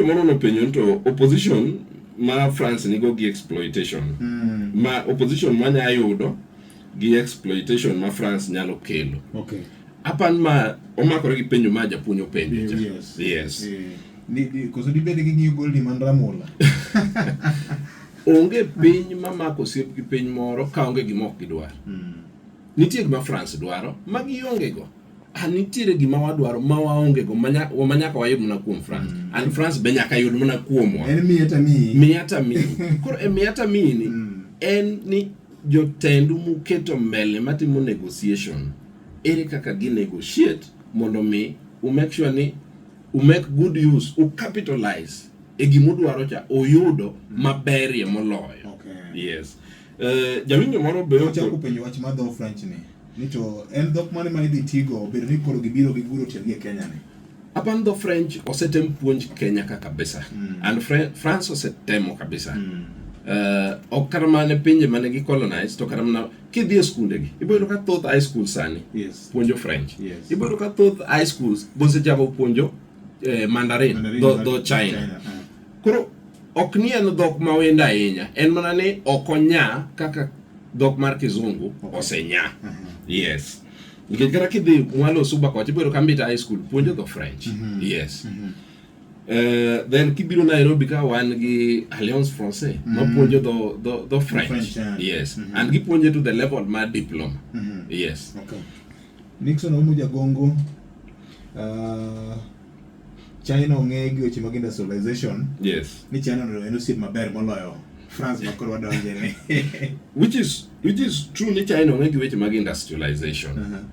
Winjo moro nopenjo ni to opposition ma France nigo gi exploitation mm. ma opposition manya yudo gi exploitation ma France nyalo kelo. Okay. Apan ma omakore gi penjo ma japuonj openjo. Yes. Yes. yes. Yeah. Ni, ni, koso dibed gi ng'iyo gol ni man Ramola. onge piny ma mako osiep gi piny moro ka onge gima ok gidwar. Mm. Nitie gima France dwaro ma giongego. an nitiere gima wadwaro ma waonge go ma nyaka wayud mana kuom France mm. and France be nyaka yud mana kuomwa en miya ta miyi miya ta miyi koro e miya ta miyi ni mm. en ni jotendu muketo mbele matimo negotiation ere kaka gi negotiate mondo mi u make sure ni u make good use u capitalize e gima udwaro cha uyudo mm. maberie moloyo okay. yes uh, jawinjo moro be ochakupenjo wach ma dho French ni Ni to en dhok mane ma idhi tigo obedo ni koro gibiro giguro tiendgi e Kenya ni? Apan dho French osetem puonj Kenya ka kabisa. Mm. And Fre France osetemo kabisa. Mm. Uh, ok kata mana pinje mane gi colonize to kata mana kidhi e skunde gi iboyudo ka thoth high school sani yes. puonjo french yes. iboyudo ka thoth high schools bose jago puonjo eh, mandarin, mandarin dho, dho china, china. Uh. koro ok ni en dhok ma wendo ahinya en mana ni ok onya kaka dhok mar kizungu osenya mhm. yes nikech kata kidhi mwalo suba kocha ibiro kambita high school puonjo dho french mhm. yes mm -hmm. Uh, then kibiro Nairobi ka wan gi Alliance Française mm. mapuonjo dho dho dho French, French yeah. yes mm -hmm. and gipuonje to the level ma diploma mm -hmm. yes okay. Nixon Omu Jagongo uh, China ong'e gi weche mag industrialization. Yes. Ni China no en osiep maber moloyo France ma koro wadonje ni. Which is which is true ni China ong'e gi weche mag industrialization. Uh -huh.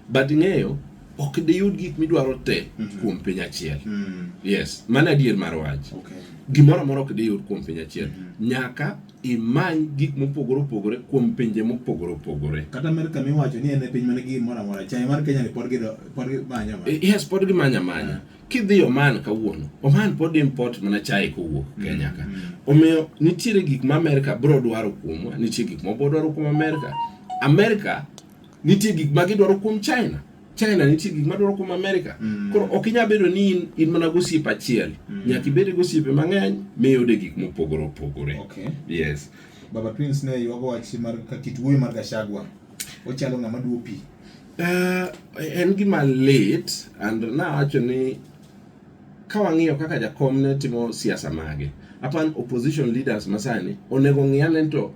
But ng'eyo ok diyud gik midwaro te mm -hmm. kuom piny achiel. Mm -hmm. Yes, mano adier mar wach. Okay. Gimoro amora ok diyud kuom piny achiel. Mm -hmm. Nyaka imany gik mopogore opogore kuom pinje mopogore opogore. Kata Amerka miwacho ni en e piny manigi gimoro amora, chai mar Kenya ni pod gido pod gimanya manya. Yes, pod gimanya manya. Kidhi Oman kawuono, Oman pod import mana chai kowuok mm, Kenya ka. Mm. Omiyo nitiere gik ma Amerka bro dwaro kuomwa, nitie gik ma bro dwaro kuom Amerka. Amerka nitie gik ma gidwaro kuom China. China nitie gik madwaro kuom Amerika. Mm. Koro ok inyal bedo ni in, in mana gosiepe achiel. Mm. Nyaka ibed gosiepe mang'eny miyude gik mopogore opogore. Okay. Yes. Baba Twins ne yuago wach mar kit wuoyo mar Gachagua. Ochalo ng'ama duo pi. Uh, en gima lit and nawacho ni ka wang'iyo kaka jakom ne timo siasa mage apan opposition leaders masani onego ng'iane to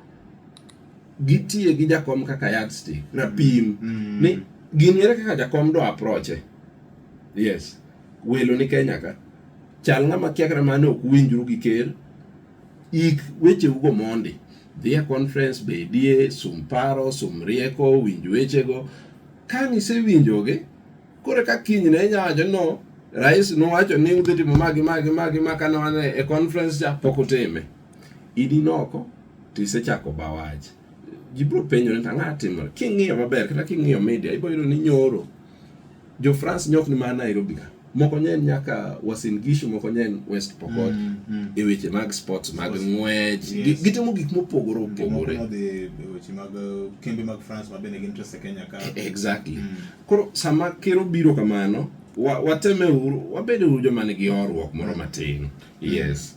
gitiye gi jakom kaka yardstick rapim mm. mm. ni gini ere kaka jakom do aproche yes welo ni Kenya ka chal ng'ama kia kata mane ok winjru gi ker ik weche ugo mondi dhie conference bedie sum paro sum rieko winj wechego ka nisewinjogi kore ka kinyne inyawacho no rais nowacho ni udhi timo magi magi magi ma kane wane e conference cha pok utime idi noko to isechako ba wach ji biro penjo ni ang'a timore king'iyo maber kata king'iyo media ibo yudo ni nyoro jo France nyok ni mana Nairobi ka moko nyen nyaka Uasin Gishu moko nyen West Pokot Mm, mm. e weche mag sports mag Sports. ng'wech Yes. Gi- gitimo gik mopogore Jomoko opogore nodhi e weche mag eh, kembe mag France ma bende gin Trese Kenya ka. exactly Mm. koro sama ker obiro kamano wa- wateme uru wabede uru joma nigi horuok moro matin yes